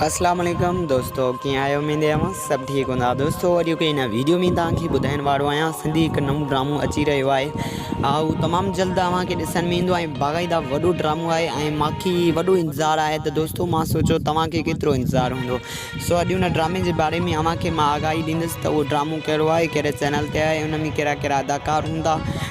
اسلام عليڪم دوستو ڪيئن آهيو اميد آهي اوهان سڀ ٺيڪ هوندا دوستو اڄ هڪ هن ويڊيو ۾ توهان کي ٻڌائڻ وارو آهيان سنڌي هڪ نئون ڊرامو اچي رهيو آهي اهو تمام جلد اوهان کي ڏسڻ ۾ ايندو ۽ باقاعده وڏو ڊرامو آهي ۽ ماکي وڏو انتظار آهي ته دوستو مان سوچو توهان کي ڪيترو انتظار هوندو سو اڄ هن ڊرامي جي باري ۾ اوهان کي مان آگاهي ڏيندس ته اهو ڊرامو ڪهڙو آهي ڪهڙي چينل تي آهي ان ۾ ڪهڙا ڪهڙا اداڪار هوندا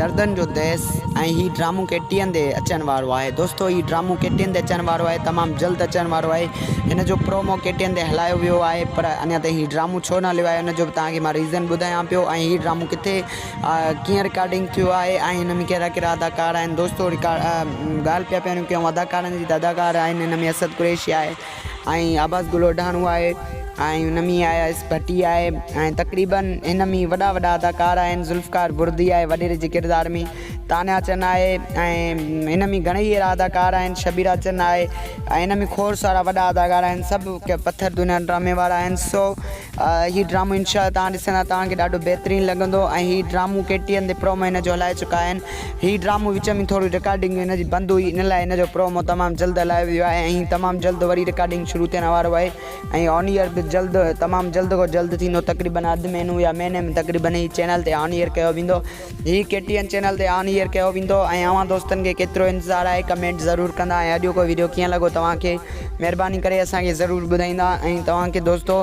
دردن جو ديس ۽ هي ڊرامو ڪي ٽي اين تي اچڻ وارو آهي دوستو هي ڊرامو ڪي ٽي اين تي اچڻ وارو آهي تمام جلد اچڻ وارو آهي هن جو پرومو ڪي ٽي اين تي هلايو ويو آهي پر اڃا تائين هي ڊرامو ڇو نه هليو آهي ان جو به توهان کي مان ريزن ٻڌايان پيو ۽ هي ڊرامو ڪٿي ڪيئن رڪارڊنگ ٿيو آهي ۽ هن ۾ ڪهڙا ڪهڙا اداڪار آهن دوستو رڪا ڳالهه پيا پيون ڪيون اداڪارن جي ته اداڪار آهن هن ۾ اسد قريشي آهي ۽ عباس گل اوڍاڻو آهي ۽ هن ۾ اياز ڀٽي آهي ۽ تقريباً هن ۾ وڏا وڏا اداڪار آهن ذوالفقار بردي آهي وڏيري جي ڪردار ۾ تانيا چن آهي ۽ هن ۾ گهڻيئي اهڙا اداڪار آهن شبيرا چن آهي ۽ هن ۾ کوڙ سارا وڏا اداڪار آهن سڀ پٿر دنيا ڊرامي وارا آهن سو هي ڊرامو انشاء الله توهان ڏسندا توهان کي ڏاڍو بهترين لڳندو ۽ هي ڊرامو ڪي ٽي اين تي پرومو هن جو هلائي چڪا آهن هي ڊرامو وچ ۾ ٿوري رڪارڊنگ هن جي بند هئي ان لاء هن جو پرومو تمام جلد هلايو ويو آهي ۽ تمام جلد وري رڪارڊنگ شروع ٿيڻ وارو آهي ۽ آن ايئر به جلد تمام جلد کان جلد ٿيندو تقريبن اڌ مهينو يا مهيني ۾ تقريبن هي چينل تي آن ايئر ڪيو ويندو هي ڪي ٽي اين چينل تي آن ايئر ڪيو ويندو ۽ اوهان دوستن کي ڪيترو انتظار آهي ڪمينٽ ضرور ڪندا ۽ اڄوڪو ويڊيو ڪيئن لڳو توهان کي مهرباني ڪري اسان کي ضرور ٻڌائيندا ۽ توهان کي دوستو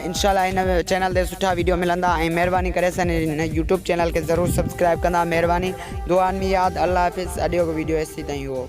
انشاء الله هن چينل تي سٺا ويڊيو ملندا ۽ مهرباني ڪري اسان هن يوٽيوب چينل کي ضرور سبسڪرائب ڪندا مهرباني دعا ۾ ياد الله حافظ اڄوڪو ويڊيو ايستي تائين هئو